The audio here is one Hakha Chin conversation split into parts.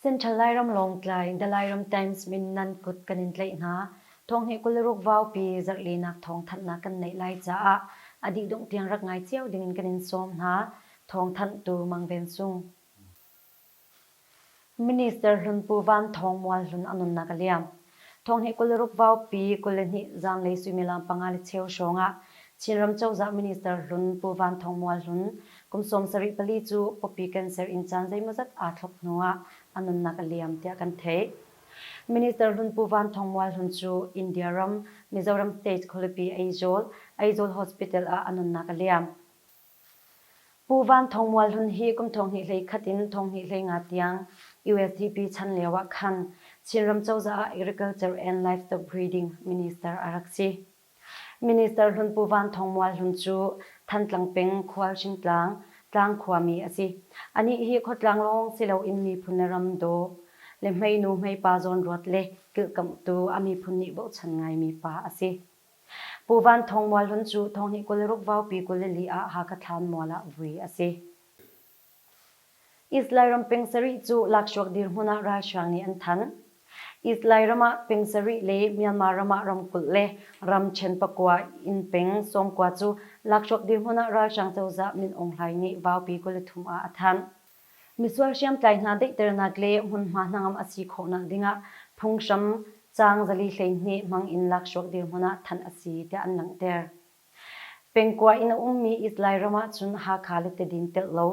Central Lairam Lawngtlai The Lairam Times min nan kut kan in tlaih hna. Thong hi kul ruk vaupi zarhlinak thong thanhnak kan neih lai caah a dih dungh tiang rak ngai cio dingin kan in sawm hna. Thong thanh tu Mang Ven Sung. Minister hlun Pu Van Thawng Mual hlun a nunnak a liam. Thawng hi kul ruk vaupi kul le hnih zanlei suimilam panga le cheu hrawng ah Chinram cozah minister hlun Pu Van Thawng Mual hlun kum sawm sarih pali cu pawpi cancer in caan zeimawzat aa thlop hnu ah a nunnak a liam tiah kan theih. Minister hlun Pu Van Thawng Mual hlun cu India ram Mizoram State Khualipi Aizawl, Aizawl Hospital ah a nunnak a liam. Pu Van Thawng Mual Hlun hi kum thonghnih hlei khat in thonghnih hlei nga tiang USDP chan lioah khan Chinram cozah ah Agriculture and Livestock Breeding Minister a rak si. Minister hlun Pu Van Thawng Mual Hlun cu Thantlang peng Khualhring tlang, tlang khuami a si. Anih hi khuatlang lawng si loin miphun le ram daw le hmeinu hmeipa zawnruat le kilhkamhtu a miphun nih bochan ngaimi pa a si. Pu Van Thawng Mual Hlun cu Thawngnih kul ruk vaupi kul i li ah Hakha thlaan mual ah vui a si. Islay ram peng sarih cu lakshuak dirhmun ah ralhrang nih an thanh. Islay ram ah peng sarih le Myanmar ram ah ramkulh le ramṭhen pakua in peng Songkua cu lakshuak dirhmun ah ralhrang cozah Min Aung Hlaing nih vaupi kul a thum ah a thanh. Misual hriamtlai hna daihternak le hmunhma hnangam a si khawhnak dingah phunghram caang zali hleihnih hmang in laksawh dirhmun ah thanh a si tiah an langhter. Pengkua in a ummi It Lairam ahcun Hakha le Tidin telh lo,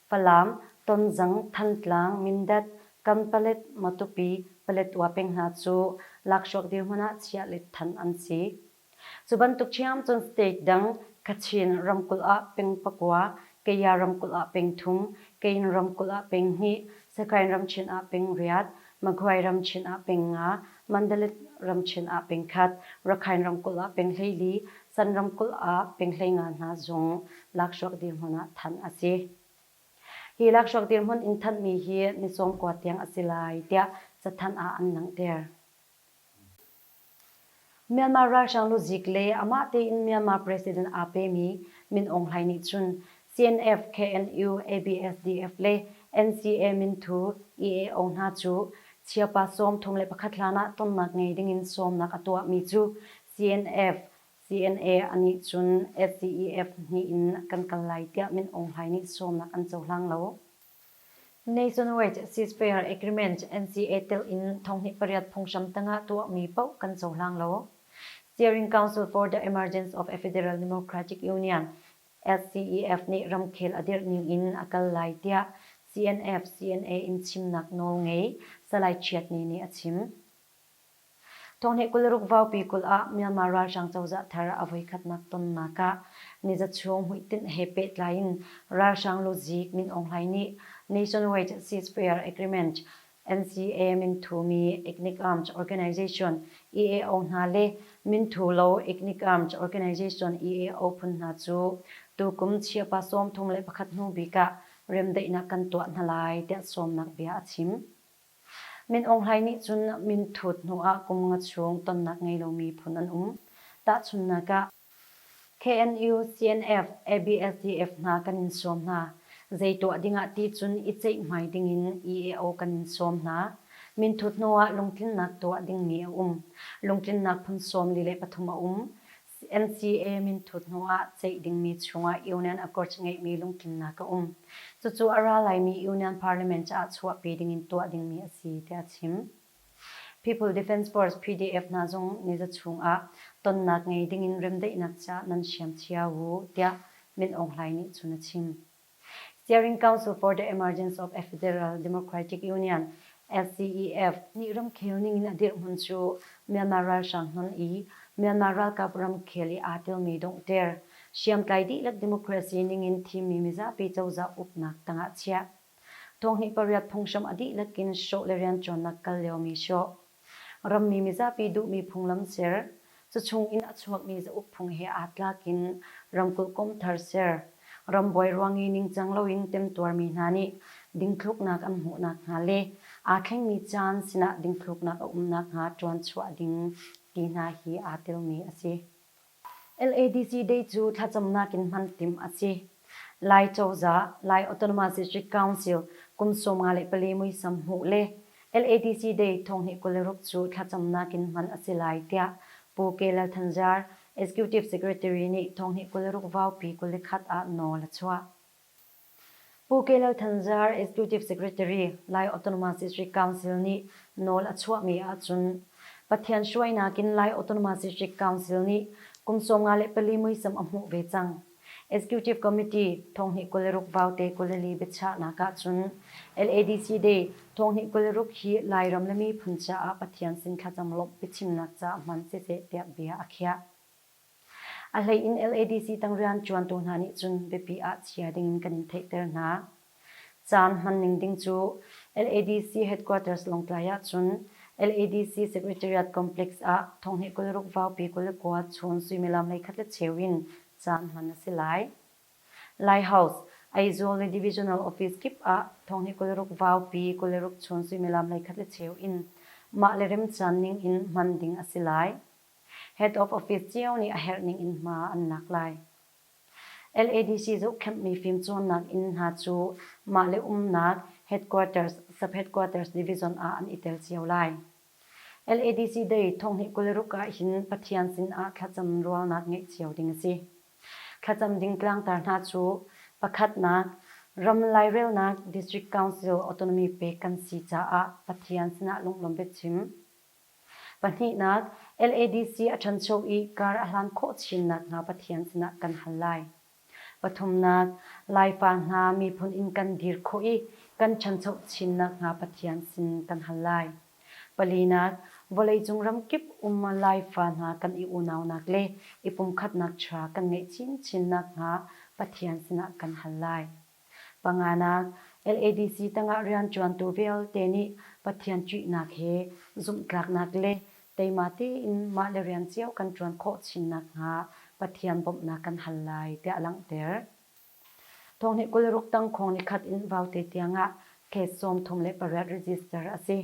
Falam, Tonzang, Thantlang, Mindat, Kanpalet, Matupi, Paletwa peng hna cu laksawh dirhmun ah chiah le thanh an si. Cu bantuk ṭhiam cun state dang, Kachin ramkulh ah peng pakua, Kaya ramkulh ah peng thum, Kayin ramkulh ah peng hnih, Sakain ramchin ah peng riat, Magwai ramchin ah peng nga, Mandalay ramchin ah peng khat, Rakhain ramkulh ah peng hleili, San ramkulh ah peng hleinga hna zung lakhruak dirhmun ah thanh a si. Hi lakhruak dirhmun in thanhmi hi Nisawm khua tiang a si lai tiah cathanh ah an langhter. Myanmar ralhrang luzik le amah tein Myanmar president aa pemi Min Aung Hlaing nih cun CNF, KNU, ABSDF le NCA minthu EAO hna cu chiapa sawm thong le pakhat hlanah tonnak ngei dingin sawmnak a tuahmi cu CNF, CNA a nih cun SDEF hnih in kan kal lai tiah Min Aung Hlaing nih sawmnak an cohlang lo. Nation Wage Cease Fair Agreement NCA telh in thonghnih pariat phunghram tangah tuahmi paoh kan cohlang lo. Steering Council for the Emergence of a Federal Democratic Union, SCEF, nih ramkhel a dirh ning in a kal lai tiah CNF CNA in chimnak nawl ngei Salai Chiat Ni nih a chim. Thawnghneh kul ruk vaupi kul ah Myanmar ralhrang cozah thar a voikhatnak tonnak ah nizachung hmuitinh he pehtlai in ralhrang luzik Min Aung Hlaing nih Nationwide Ceasefire Agreement NCA Minthumi Ethnic Arms Organization EAO hna le Minthulo Ethnic Arms Organization EAO phun hna cu tukum chiapa sawm thum le pakhat hnu bik ah remdaihnak kan tuah hna lai tiah sawmnak bia a chim. Min Aung Hlaing nih cun minthut hnu ah kum nga chung tonnak ngei lomi phun an um. Tahchunhnak ah, KNU, CNF, ABSDF hna kan in sawm hna. Zei tuah ding ah ti cun i ceihhmai ding in EAO kan in sawm hna. Minthut hnu ah lungtlinnak tuah dingmi a um. Lungtlinnak phun sawm li le pathum a um. CMCA minthut hnuah ceih dingmi chungah Union Accords ngeihmi lungtlinnak a um. Cucu a ra laimi Union Parliament caah chuahpi dingin tuah dingmi a si, tiah a chim. People Defence Force, PDF, hna zong niza chungah tonnak ngei dingin remdaihnak caah nan hriam cio u, tiah Min Aung Hlaing nih cun a chim. Steering Council for the Emergence of a Federal Democratic Union, FCEF, nih ramkhel ningin a dirhmun cu Myanmar ralhrang hnon i Myanmar ralkap ramkhel i aa telmi donghter, hriamtlai dihlak democracy ningin thimmi mizapi cozah uknak tangah chiah. Thawngnih pariat phunghram a dihlak in hrawh le rianṭuannak kal liomi hrawh. Rammi mizapi duhmi phunglam ser, Cachung in a chuakmi cauk phung he aa tlak in ramkulh kawmthar ser, rambuai ruang i ningcang loin temtuarmi hna nih dingthluknak an hmuh nakhnga le aa thlengmi caan sinah dingthluknak a um nakhnga ṭuanchuah ding ti hna hi aa telmi a si. LADC Day cu thlacamnak in hman timh a si. Lai cozah, Lai Autonomous-District Council, kum sawmnga le pali muisam hmuh le LADC Day thonghnih kul le ruk cu thlacamnak in hman a si lai tiah Pu Ke Lal Than Zar, Executive Secretary, nih thonghnih kul le ruk vaupi kul le khat ah nawl a chuah. Pu Kelo Thanzar, Executive Secretary, Lai Autonomous District Council nih nawl a chuahmi ahcun Pathian hruainak in Lai Autonomous District Council nih kum sawm nga le pali muisam a hmuh ve cang. Executive Committee thonghnih kul le ruk vaute kul le li biachahnak ahcun LADC Day thonghnih kul le ruk hi Lairam le miphun caah Pathian sin thlacam lawmh biachimnak caah hman siseh tiah bia a khiah. A hleiin LADC tang rianṭuantu hna nih cun biapi ah chia dingin kan in theihter hna. Caan hmanning ding cu LADC headquarters Lawngtlai ahcun LADC Secretariat Complex ah thonghnih kul ruk vaupi kul le kua chun suimilam hleikhat le cheu in caan hman a si lai. Lighthouse, Aizawl le Divisional Office kip ah thonghnih kul ruk vaupi kul le ruk chun suimilam hleikhat le cheu in mah le remcaan ning in hman ding a si lai. Head of Office cio nih a herh ning in hma an lak lai. LADC zohkhenhmi fimcawnnak inn hna cu mah le umnak headquarters, sub-headquarters division ah an i tel cio lai. LADC Day thonghnih kul ruk ah hin Pathian sin ah thlacam rualnak ngeih cio ding a si. Thlacam ding tlangtar hna cu pakhatnak, ram lairelnak District Council autonomy pek kan si caah Pathian sinah lunglawm biachim. Pahnihnak, LADC a ṭhancho i kar a hlan khawh chinnak hna Pathian sinah kan hal lai. Pathumnak, Laifa hna miphun in kan dir khawh i kan ṭhancho chinnak hna Pathian sin kan hal lai. Palinak, vawleicung ramkip um Laifa hna kan i unaunak le i pumkhatnak chia kan ngeih chinchin nakhnga Pathian sinah kan hal lai. Panganak, LADC tangah rianṭuantu vialte nih Pathian ṭihnak he zumhtlaknak le teima tein mahle rian cio kan ṭuan khawh chin nakhnga Pathian bawmhnak kan hal lai tiah a langhter. Thawngnih kul ruk tang khawng ni khat in vaute tiangah khet sawm thum le pariat register a si.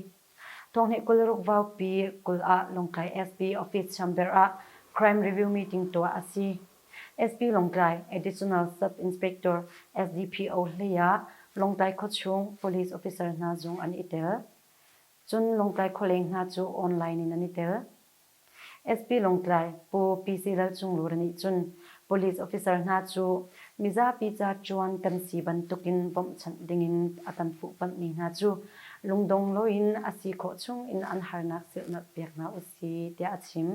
Thawngnih kul ruk vaupi kul ah Lawngtlai SP office chamber ah crime review meeting tuah a si. SP Lawngtlai Additional Sub-Inspector SDPO hlei ah Lawngtlai khuachung police officer hna zung an i tel. Cun Lawngtlai khualeng hna cu online in an i tel. SP Lawngtlai Pu PC Lal Cung Lura nih cun police officer hna cu mizapi ca ṭuan kan si bantukin bawmhchanh dingin a kan fuhpamhmi hna cu lungdong loin a si khawh chungin an harnak silhnalh pek hna usih tiah a chim.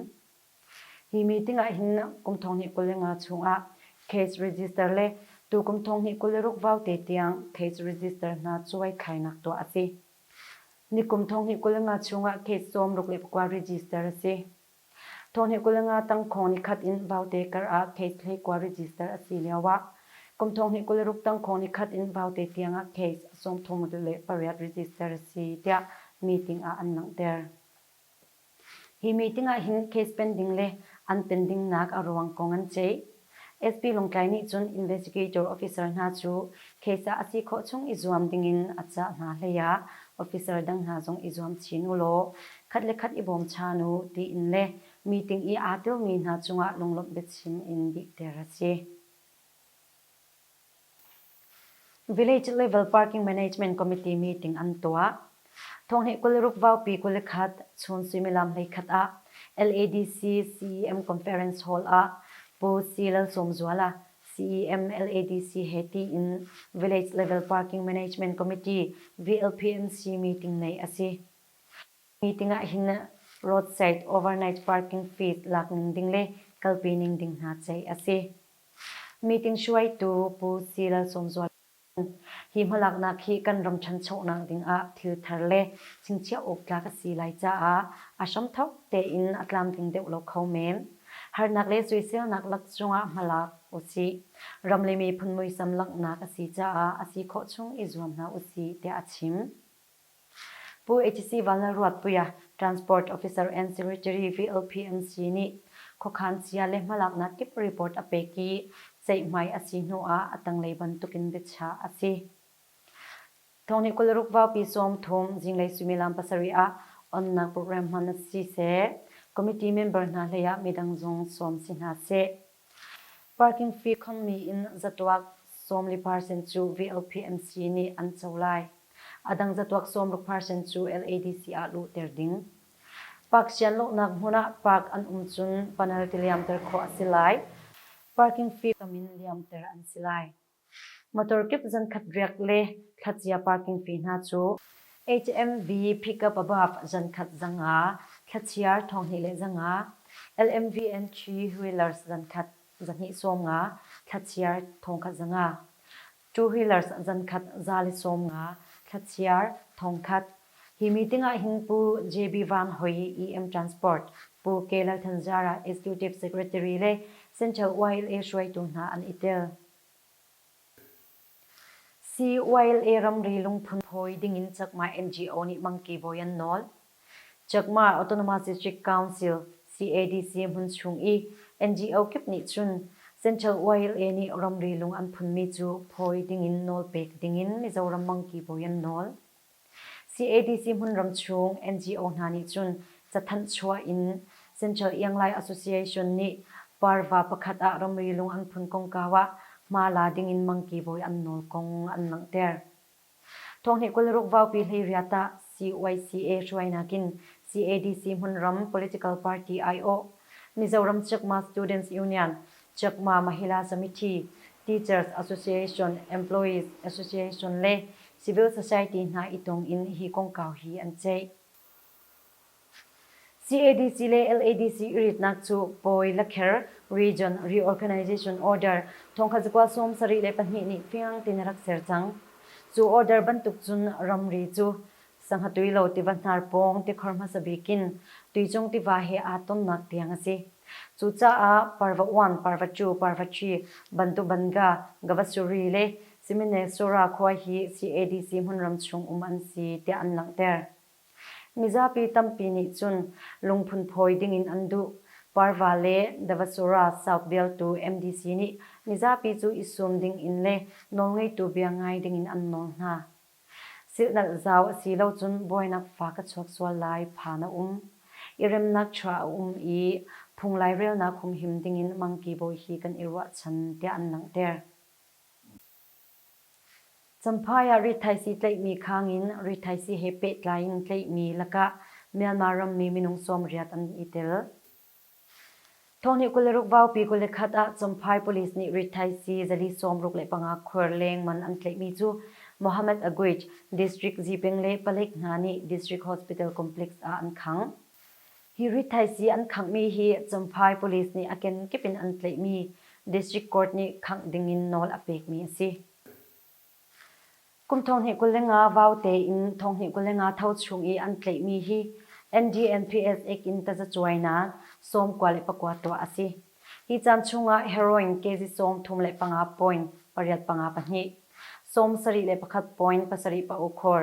Hi meeting ah hin kum thonghnih kul le nga chungah case register le tu kum thonghnih kul le ruk vau te tiang case register hna cuai khainak tuah a si. Nikum thonghnih kul le nga chungah case sawm ruk le pakua register a si. Thonghnih kul le nga tangkhong nikhat in vaute kar ah case hlei kua register a si lio ah kum thonghnih kul le ruk tangkhong nikhat in vaute tiangah case sawmthum le pariat register a si tiah meeting ah an langhter. Hi meeting ah hin case pen ding le an pen dingnak a ruang kong an ceih. SP Lawngtlai nih cun investigator officer hna cu case ah a si khawh chung i zuam dingin a cah hna hlei ah officer dang hna zong i zuam chin u law khat le khat i bawmchan u tiin le meeting i aa telmi hna cungah lunglawmh biachim in dihter a si. Village Level Parking Management Committee meeting an tuah. Thonghnih kul ruk vaupi kul khat chun suimilam hlei khat ah LADC CEM Conference Hall ah Pu C. Lalsawmzuala CEM LADC he tiin Village Level Parking Management Committee VLPMC meeting nei a si. Meeting ah hin roadside overnight parking fees lak ning ding le kalpi ning ding hna ceih a si. Meeting hruaitu Pu Si Lalsawmzuala nih hi hmalaknak hi kan ram ṭhanchonak dingah thilthar le chingchiah awk tlak a si lai caah a hramthawk tein a tlam tling deuh lo kho men. Harnak le soiselnak lak zongah hmalak usih. Ram le miphun muisam langhnak a si caah a si khawh chung i zuam hna usih tiah a chim. Pu HC Vallalruatpuia, Transport Officer and Secretary VLP an si nih khuakhan sia le hmalaknak kip report a pek i ceihmai a si hnu ah a tanglei bantukin biachah a si. Thong nih kul ruk vaupi sawm thum zinglei suimilam pasarih ah onnak program hman a si seh. Committee member hna hleiah midang zong sawm si hna seh. Parking fee khongmi in zatuak sawm li percent cu VLP an si nih an co lai. Adang catuak sawmruk parsen cu LADC ah luhter ding. Park sian lawhnak hmun ah park an um cun panel ti liamter khawh a si lai. Parking fee kam in liamter an si lai. Motor kip zankhat riak le thlacia parking fee hna cu HMV pickup above zankhat zanga, thlachiar thonghnih le zanga, LMV and three wheelers zankhat zahnih sawm nga, thlachiar thongkhat zanga. Two-Wheelers zankhat za li sawm nga thla-chiar thongkhat Hi meeting ah hin Pu JB Vang Hoi, EM Transport, Pu Ke Lal Than Zara, Executive Secretary le Central YLA hruaitu hna an i tel. CYLA ramri lungphun phawi ding in Chakma NGO nih mangki bawi an nawl. Chakma Autonomous District Council, CADC, hmun chung i NGO kip nih cun Central YLA nih ramri lung an phunmi cu phawi dingin nawl pek dingin Mizoram mangki bawi an nawl. CADC hmunram chung NGO hna nih cun cathanh chuah in Central Ianglai Association nih parva pakhat ah ramri lung an phun kongkau ah hma la dingin mangki bawi an nawl kong an langhter. Thawnghneh kul ruk vaupi hleiriat ah CYCA hruainak in CADC hmunram political party aiawh, Mizoram Chakma Students Union, Chakma Mahila Committee, Teachers Association, Employees Association le civil society hna i tong in hi kongkau hi an ceih. CADC le LADC i ritnak cu Pawi Lakher Region Reorganization Order thongkhat zakua sawm sarih le pahnih nih fiang tein a rak ser cang. Cu order bantuk cun ramri cu Sanghatuai lo tiva hnar pawng tikhor hmasa bik in tuicung tiva he aa tonnak tiang a si. Cucaah Parva one, Parva two, Parva three bantuk Banga, Gavasuri le Siminelsura khua hi CADC hmunram chung um an si tiah an langhter. Mizapi tampi nih cun lungphun phawi dingin an duh. Parva le Davasura cauk vialtu MDC nih mizapi cu i sum dingin le nawlngeitu bia ngai dingin an nawl hna. Silhnalh zau a si lo cun buainak fa ka chuak sual lai phan a um. I remnak chuah a um i phung lairelnak humhim dingin Mangki bawi hi kan i ruahchan tiah an langhter. Champhai ah rithaisi tlaihmi khang in rithaisi he pehtlai in tlaihmi lakah Myanmar rammi minung sawmriat an i tel. Thawhni kul le ruk vaupi kul le khat ah Champhai police nih rithaisi zali sawmruk le panga khuar lengman an tlaihmi cu Mohammed Aguic District Zipeng le palek hna nih District Hospital Complex ah an khang. Hi rithaisii an khanghmi hi Champhai police nih a kenkip in an tlaihmi district court nih khangh dingin nawl a pekmi a si. Kum thonghnih kul le nga vau tein thonghnih kul le nga tho chung i an tlaihmi hi NDNPS ek in tazacuainak, sawmkua le pakua tuah a si. Hi caan chungah heroin kezi sawm thum le panga point pariat panga pahnih, sawm sarih le pakhat point pasarih pa ukhor,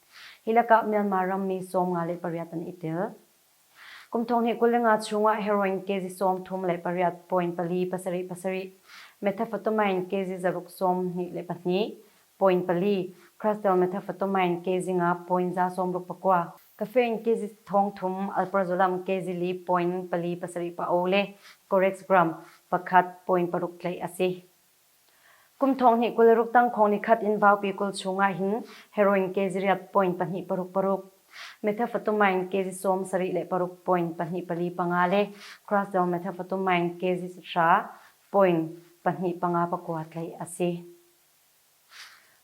Hi lakah Myanmar rammi sawm nga le pariat an i tel. Kum thong hnih kul le nga chungah heroin kezi sawm thum le pariat, point pali pasarih pasarih, methamphetamine kezi zaruk sawm hnih le pahnih, point pali, crystalmethamphetamine kezi nga point za sawmruk pakua, caffeine kezi thong thum, alprazolam kezi li point pali pasarih pa o le Corex gram pakhat, point paruk tlaih a si. Kum thong hnih kul ruk tangkhawng nikhat in vaupi kul chungah hin heroin kezi riat point pahnih paruk paruk, methamphetamine kezi sawm sarih le paruk point pahnih pali panga le crosal methamphetamine kezi sahra point pahnih panga pakua tlaih a si.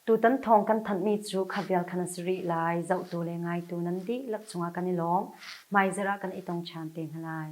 Tutan thawng kan thanhmi cu khabial khan a si rih lai. Zohtu le ngaitu nan dihlak chungah kan i lawm. Hmaizarh ah kan i tong ṭhan te hna lai.